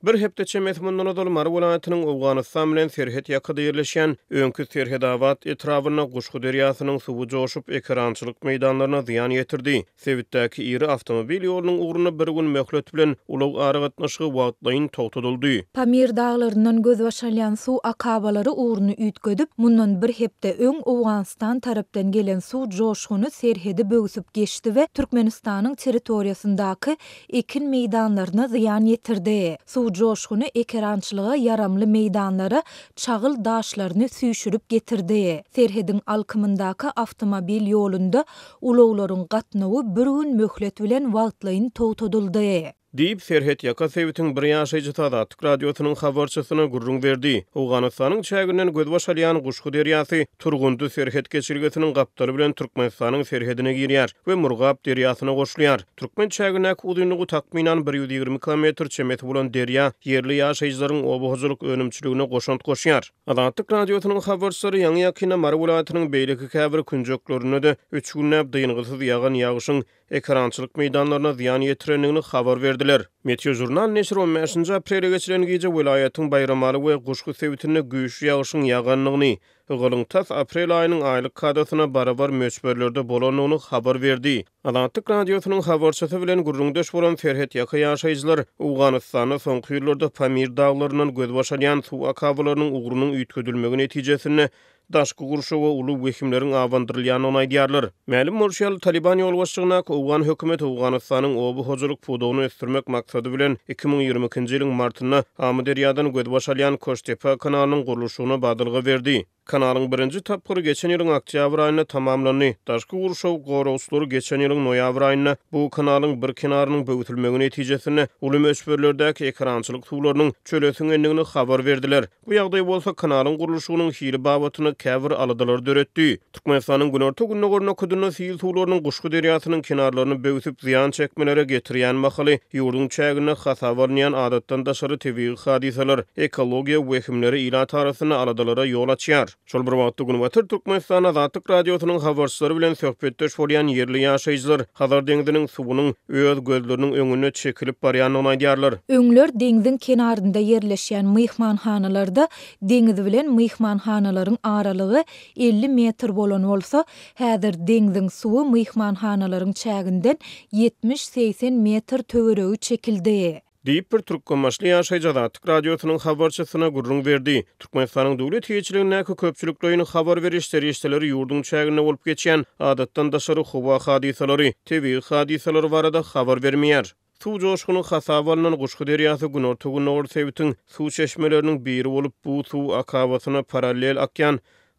Bir hepde çemesi mundan ozal Mary welaýatynyň Owganystan bilen serhet ýakada ýerleşýän öňki Serhedabad etrabynda Guşgy derýasynyň suwy joşup, ekerançylyk meýdanlaryna zyýan ýetirdi. Sebitdäki iri awtomobil ýolunyň ugrunda bir gün möhlet bilen ulag aragatnaşygy wagtlaýyn togtadyldy. Pamir daglaryndan gözbaş alýan suw akabalary ugruny üýtgedip, mundan bir hepde öň Owganystan tarapdan gelen suw joşguny serhedi böwsüp geçdi we Türkmenistanyň territoriýasyndaky ekin meýdanlaryna zyýan ýetirdi, suw joşguny ekerançylyga ýaramly meýdanlara çagyl daşlaryny süýşürip getirdi, serhediň alkymyndaky awtomobil ýolunda ulaglaryň gatnawy bir gün möhlet bilen wagtlaýyn togtadyldy. Diýip, serhetýaka sebitiň bir ýaşaýjysy Azatlyk Radiosynyň habarçysyna gürrüň berdi. Owganystanyň çäginden gözbaş alýan Guşgy derýasy Turgundy serhet geçelgesiniň gapdaly bilen Türkmenistanyň serhedine girýär we Murgap derýasyna goşulýar. Türkmen çägindäki uzynlygy takmynan bir ýüz ýigrimi kilometr çemesi bolan derýa ýerli ýaşaýjylaryň oba hojalyk önümçiligine goşant goşýar. Azatlyk Radiosynyň habarçylary ýaňy-ýakynda Mary welaýatynyň beýleki käbir künjeklerinde-de üç günläp dyngysyz ýagan ýagyşyň ekerançylyk meýdanlaryna zyýan ýetirendigini habar berdiler. Meteožurnal neşiri on bäşinji aprele geçilen gije welaýatyň Baýramaly we Guşgy sebitinde güýçli ýagyşyň ýagandygyny, Ygalyň tas aprel aýynyň aýlyk kadasyna barabar möçberlerde bolandygyny habar berdi. Azatlyk Radiosynyň habarçysy bilen gürrüňdeş bolan serhetýaka ýaşaýjylar Owganystanda soňky ýyllarda Pamir daglaryndan gözbaş alýan suw akabalarynyň ugrunyň üýtgedilmegi netijesinde daşky gurşawa uly wehimleriň abandyrylýandygyny aýdýarlar. Mälim bolşy ýaly, Talyban ýolbaşçylygyndaky owgan hökümeti Owganystanyň oba hojalyk pudagyny ösdürmek maksady bilen iki müň ýigrimi ikinji ýylyň martynda Amyderýadan gözbaş alýan Koştepa kanalynyň gurluşygyna badalga berdi. Kanalyň birinji tapgyry geçen ýylyň oktýabr aýynda tamamlandy. Daşky gurşaw goragçylary geçen ýylyň noýabr aýynda bu kanalyň bir kenarynyň böwütilmegi netijesinde uly möçberlerdäki ekerançylyk suwlarynyň çöle siňendigini habar berdiler. Bu ýagdaý bolsa kanalyň gurluşygynyň hili babatynda käbir aladalary döretdi. Türkmenistanyň günorta-gündogar nokadynda sil suwlarynyň Guşgy derýasynyň kenarlaryny böwsüp zyýan çekmelere getirýän mahaly, ýurduň çäginde hasaba alynýan adatdan daşary tebigy hadysalar, ekologiýa wehimleri ilat arasynda aladalara ýol açýar. Şol bir wagtda, Günbatar Türkmenistan Azatlyk Radiosynyň habarçylary bilen söhbetdeş bolýan ýerli ýaşaýjylar Hazar deňziniň suwunyň öz gözleriniň öňünde çekilip barýandygyny aýdýarlar. Öňler deňziň kenarynda ýerleşýän myhmanhanalarda deňiz bilen myhmanhanalaryň aralygy elli metr bolan bolsa, häzir deňziň suwy myhmanhanalaryň çäginden ýetmiş-segsen metr töweregi çekildi. Diýip, bir türkmenbaşly ýaşaýjy Azatlyk Radiosynyň habarçysyna gürrüň berdi. Türkmenistanyň döwlet eýeçiligindäki köpçülikleýin habar beriş serişdeleri ýurduň çäginde bolup geçýän adatdan daşary howa hadysalary, tebigy hadysalary barada habar bermeýär. Suw joşguny hasaba alnan Guşgy derýasy günorta-gündogar sebitiň suw çeşmeleriniň biri bolup, bu suw akabasyna parallel akýan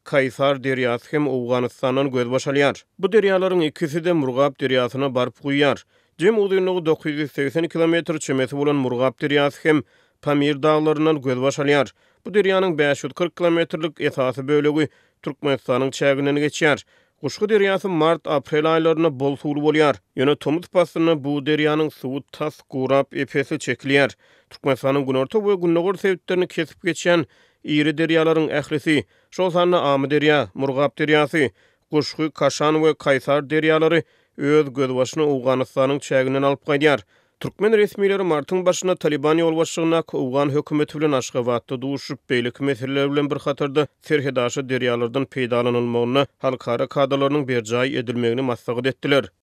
Kaýsar derýasy hem Owganystandan gözbaş alýar. Bu derýalaryň ikisi-de Murgap derýasyna baryp guýýar. Jem uzynlygy dokuz ýüz segsen kilometr çemesi bolan Murgap derýasy hem Pamir daglaryndan gözbaş alýar. Bu derýanyň bäş ýüz kyrk kilometrlik esasy bölegi Türkmenistanyň çäginden geçýär. Guşgy derýasy mart-aprel aýlarynda bol suwly bolýar. Ýöne tomus paslynda bu derýanyň suwy tas gurap, ep-esli çekilýär. Türkmenistanyň günorta we gündogar sebitlerini kesip geçýän iri derýalaryň ählisi, şol sanda Amyderýa, Murgap derýasy, Guşgy, Kaşan we Kaýsar derýalary öz gözbaşyny Owganystanyň çäginden alyp gaýdýar. Türkmen resmileri martyň başynda Talyban ýolbaşçylygyndaky owgan hökümeti bilen Aşgabatda duşup, beýleki meseleler bilen bir hatarda serhetaşa derýalardan peýdalanylmagyna halkara kadalarynyň berjaý edilmegini maslahat etdiler.